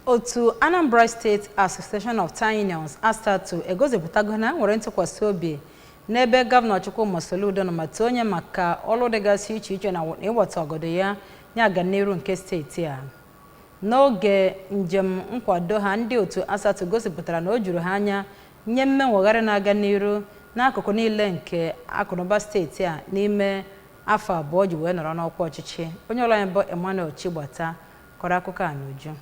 Otu Anambra State Association of Town Unions, ASATU, egosipụtago na nwere ntụkwasị obi n'ebe Gọvanọ Chukwuma Soludo nọ ma too onye maka ọrụ dịgasị iche iche na ịwata ọgọdọ ya nye aganiru nke steeti a. N'oge njem nkwado ha, ndị otu ASATU gosipụtara na o juru ha anya nye mmenwegharị na-aga n'iru n'akụkụ niile nke akụnụba steeti a n'ime afọ abụọ o ji wee nọrọ n'ọkwa ọchịchị. Onye ọrụ anyị bụ Emmanuel Chigbata kọrọ akụkọ a n'uju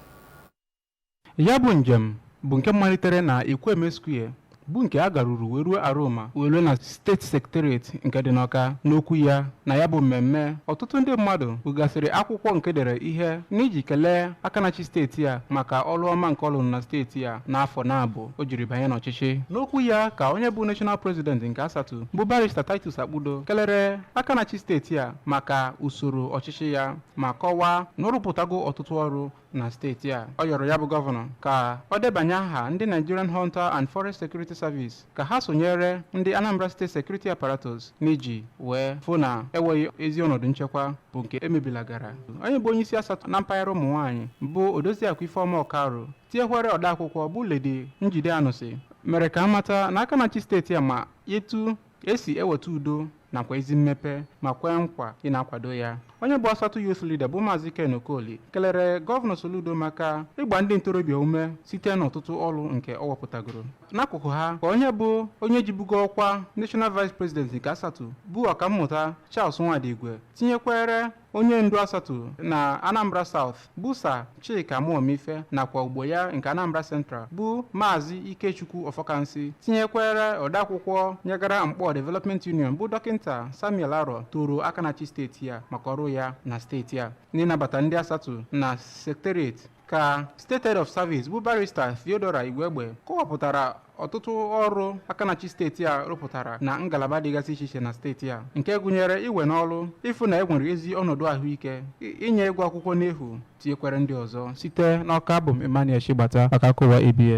ya bụ njem bụ nke malitere na Ekwueme Square bụ nke a garuru wee ruo Aroma wee ruo na steeti sekiteret nke dị n'Ọka n'okwu ya na ya bụ mmemme ọtụtụ ndị mmadụ bugasịrị akwụkwọ nke e dere ihe n'iji kelee aka na-achị steeti a maka ọrụ ọma nke ọ lụrụ na steeti a n'afọ naabọ o jiri banye n'ọchịchị n'okwu ya ka onye bụ national president nke ASATU bụ barista Titus Akpudo kelere aka na-achị steeti a maka usoro ọchịchị ya ma kọwaa na ọ rụpụtago ọtụtụ ọrụ na steeti a ọ yọrọ ya bụ gọvanọ ka ọ debanye aha ndị Nigerian Hunter and Forest Security Service ka ha sonyere ndị Anambra State Security Apparatus n'iji wee fụ na enweghị ezi ọnọdụ nchekwa bụ nke emebilagara onye bụ onye isi ASATU na mpaghara ụmụ nwaanyị bụ Odoziakụ Ifeoma Okaro tinyekwere odeakwụkwọ bụ Lady Njide Anụsị mere ka a mata na aka na-achị steeti a ma etu e si eweta udo nakwa ezi mmepe ma kwee nkwa ịna-akwado ya onye bụ asatu youth leader bụ maazị ken okoli kelere gọvanọ soludo maka ịgba ndị ntorobịa ume site n'ọtụtụ ọrụ nke ọ wepụtagoro n'akụkụ ha ka onye bụ onye jibugo ọkwa national vice president nke asatu bụ ọkammụta charles nwadigwe tinyekwere onye ndu asatu na anambra south bụ sa chika muomife nakwa ogbo ya nke anambra central bụ maazị ikechukwu ọfọkansi tinyekwere odeakwụkwọ nyegara nkpọ development union bụ dọkịnta samuel arọ toro aka na-achị steeti a maka ọrụ ya na steeti a n'ịnabata ndị asatu na sekterieti ka state head of service bụ barista theodora igwegbe kọwapụtara ọtụtụ ọrụ aka na-achị steeti a rụpụtara na ngalaba dịgasị iche iche na steeti a nke gụnyere iwe n'ọrụ ịfụ na e nwere ezi ọnọdụ ahụike i- inye ịgụ akwụkwọ n'efu tinyekwere ndị ọzọ site n'ọka abụ m emmanuel chigbata maka akụkọ ụwa abs